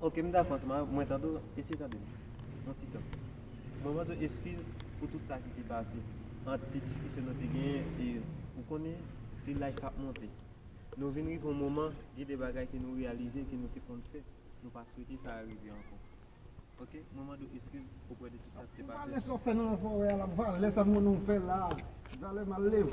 Ok m dakò ansanm avèw mwen tande w eseye tande m yon ti tan mwen mande w eskiz pou tout sa ki te pase ant ti diskisyon nou te genyen e ou konnen se laj kap monte nou vin rive yon moman gen de bagay ke nou reyalize ke nou te konn fè nou pa swete sa rive ankò ok mwen mande w eskiz oprè de tout sa ki te pase valè sa w fè nan forè a la valè sa m konnen w fè la valè mal leve.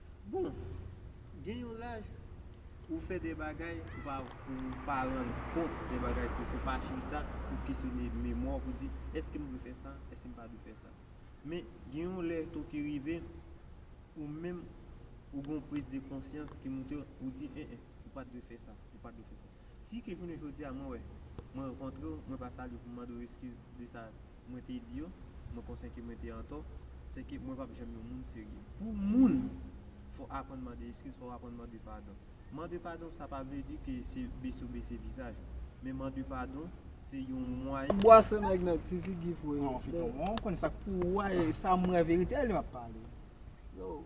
Bon, gen yon laj pou ou fè de bagay pou pa pou ou pa rann kont de bagay ke w fè, pa chita pou w kesyone memwa w pou w di, èske m dwe fè sa, èske m pa dwe fè sa? Men, gen yon lè tou ki rive, ou menm ou gen yon priz de konsyans ki moute w, ou di, en en, ou pa t dwe fè sa, ou pa t dwe fè sa. Si ke jounen jodi a mwen wè, mwen rankontre w, mwen pa salye w pou m mande w eskiz de sa Mwen te di yo, mwen konsyen ke mwen te antò, se ke mwen pap janm yon moun serye. Pou moun, fò aprann mande eskiz, fò aprann mande padon. Mande padon sa pa vle di ke se bese w bese vizaj ou. Men mande padon, se yon mwayen. Bwase nèg nan ti figi fre. Non feyton bon ou konn sak pou ou a e sam wè verite a li map pale. Yow.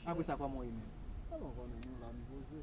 Apresa koman ou ye menm. Koman ou konnen nou la nou poze.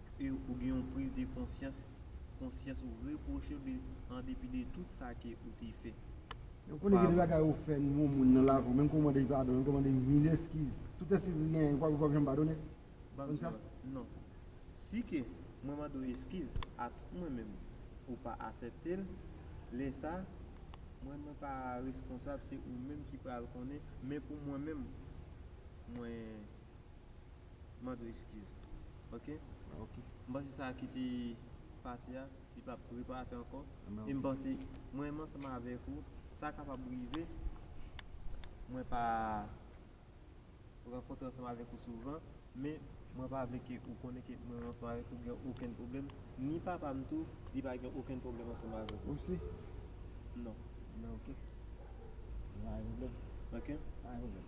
E ou gen yon priz de konsyans, konsyans ou repwoche ou de an depi de tout sa ke ou te fè. E ou konnen gen de bagay ou fè yon moun nan lavi ou menm ke ou mande padon, menm ke ou mande mil eskiz, tout eskiz li genyen ou pap janm padone? Banm di mwen, non. Si ke mwen mande ou eskiz a tout mwen menm ou pa asèpte l, lè sa mwen mwen pa reskonsab se ou menm ki pral konnen men pou mwen menm mwen. Mande eskiz ok. Ok. M panse sa ki te pase a li pa p repase ankò e m panse mwen menm ansanm avèk ou sa kapab rive mwen pa rankontre ansanm avèk ou souvan men mwen pa vle ke ou konnen ke mwen ansanm avèk ou gen okenn pwoblèm ni papa m tou li pa gen okenn pwoblèm ansanm avèk ou. Ou si? Non. Ok. Pa gen pwoblèm. Ok. Pa gen pwoblèm.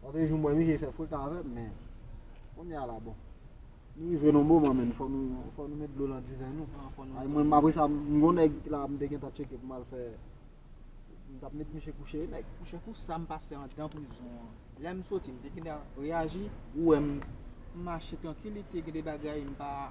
Lòtre jou m wè misye fè freka avè m men kounye a la bon. Nou rive nan yon moman menn fò nou met dlo nan diven nou. Ay mwen menm apresa m gon nèg la m te gentan tcheke pou m al fè m t ap met misye kouche nèg. Mouche pou sa m pase andan prizon an. Lè m soti m te gentan reyaji. Ou wè m mache trankilite gen de bagay m pa.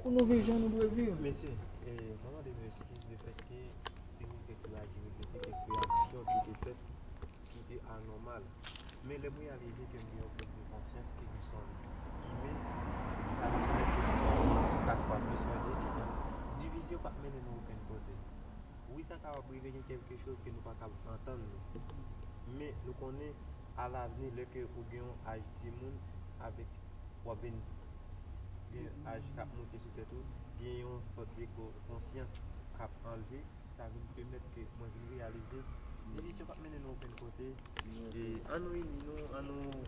Pou nou viv jan nou dwe viv. Mesye, mwen mande nou eskiz le fèt ke te gen kèk lagi, le fèt ke kèk reyaksyon ki te fèt ki te anòmal. Men lè m reyalize ke m gen yon pèt de konsyans ke nou sòm imen, sa vin fè ke m panse kat fwa plis mwen di ke non, divizyon pa p mennen nou okenn kote. Wi sa kapab rive gen kèlke choz ke nou pa kab antann nou. Men nou konnen a lavni lè ke ou gen yon aj timoun avèk w ap vin gen aj kap moute sou tèt ou, gen yon sòt de konsyans kap anleve, sa vin pèmèt ke mwen vin reyalize divisyon pap mennen nou okenn kote e an nou ini nou, an nou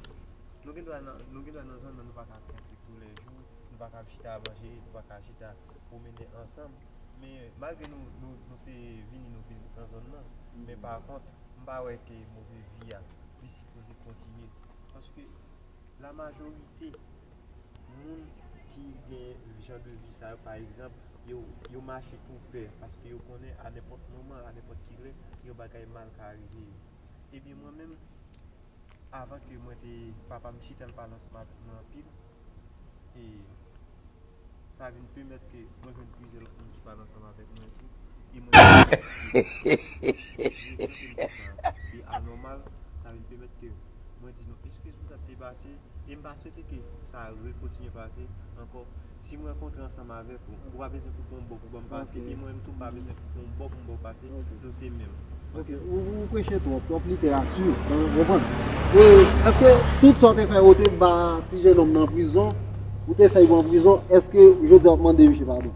nou gen dwa nan, nou gen dwa nan zòn nan nou pa ka kontre tou lè jou, nou pa ka ap chita manje, nou pa ka chita pwomennen ansanm men malgre nou, nou se vini nou vin nan zòn nan men pa kont m pa wè ke move vi a li sipoze kontinye paske. la majorite moun ki gen jan de vi sa yo pa egzanp, yo mache pou pè paske yo konnen a nenpòt moman, a nenpòt ki lè yon bagay mal ka rive yo. Ebyen mwen menm avan ke mwen te papa m chita l pa lansman avèk mwen anpil e. sa vin pèmèt ke mwen jwenn plizyè lòt moun ki pale ansanm avèk mwen tou, e mwen vin gen yon konpòtman ki anòmal, sa vin pèmèt ke mwen di nou eskiz pou sa ki te pase, e m pa swete ke sa rekontinye pase ankò. Si m rankontre ansanm avèk ou, ou pa bezwen pou w fè yon bò pou ban m pase, e mwen menm tou m pa bezwen pou w fè yon bò pou m ba w pase. Ok ou preche trop, trop literati ou konprann? E eske tout sa ou te fè ou te ba ti jenòm nan prizon ou te fè li pran prizon eske jodi a wap mande misye padon?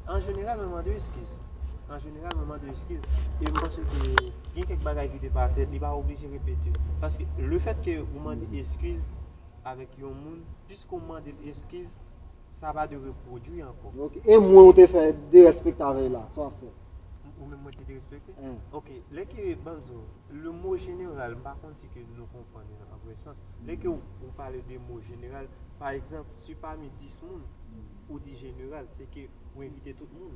An jeneral mwen mande eskiz An jeneral mwen mande eskiz e m panse ke gen kèk bagay ki te pase li pa oblije repete yo paske lefètke ou mande eskiz avèk yon moun piske ou mande l eskiz Sa pa dwe repwodwi ankò. Ok, e mwen ou te fè derespekte avèy la, sa wap fè? Ou menm mwen te derespekte? Wi. Ok, lè ke banzo, le mo jeneral, m pa konn si ke nou konprann li an vrè sans. Lè ke ou pale de mo jeneral, pa egzanp, si pami 10 moun, ou di jeneral, se ke ou envite tout moun.